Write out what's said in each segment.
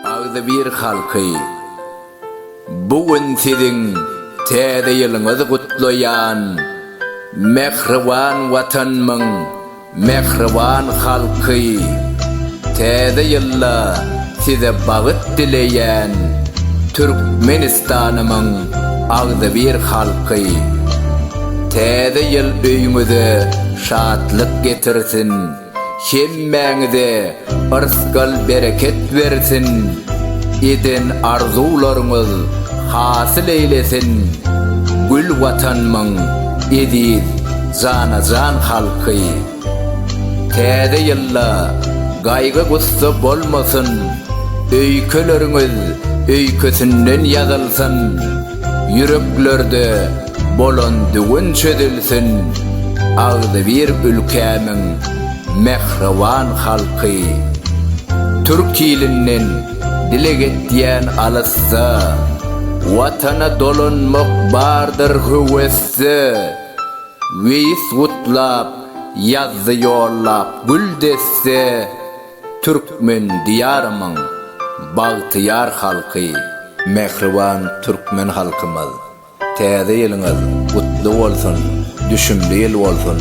Agzybir halky, bu gün siziň Täze ýylyňyzy gutlaýan, mähriban Watanymyň mähriban halky! Täze ýylda size bagyt dileýän Türkmenistanymyň agzybir halky! Täze ýyl öýüňize Şatlyk getirsin, hemmäňize yrsgal bereket bersin, eden arzuwlaryňyz hasyl eýlesin, gül Watanymyň eziz jana-jan halky! Täze ýylda gaýgy-gussa bolmasyn, öýkeleriňiz öýkesinden ýazylsyn, ýüreklerde Bolan düwün çözülsin agzybir ülkämiň mähriban halky Türk ilinden dileg etýän alysda Watana dolanmak bardyr höwesde Weýis gutlap ýazdy ýollap gül desse Türkmen diýarymyň bagtyýar halky. Mähriban Türkmen halkymyz! Täze ýylyňyz gutly bolsun, düşümli ýyl bolsun,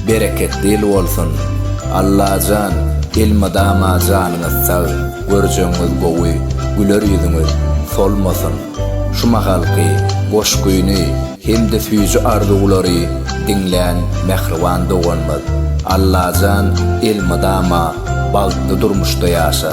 bereketli ýyl bolsun! Allajan, elmydama janyňyz sag, görjegiňiz gowy, güler ýüzüňiz solmasyn! Şu mahalky goşgyny hem-de süýji arzuwlary diňlän mähriban doganymyz Allajan elmydama bagtly durmuşda ýaşa!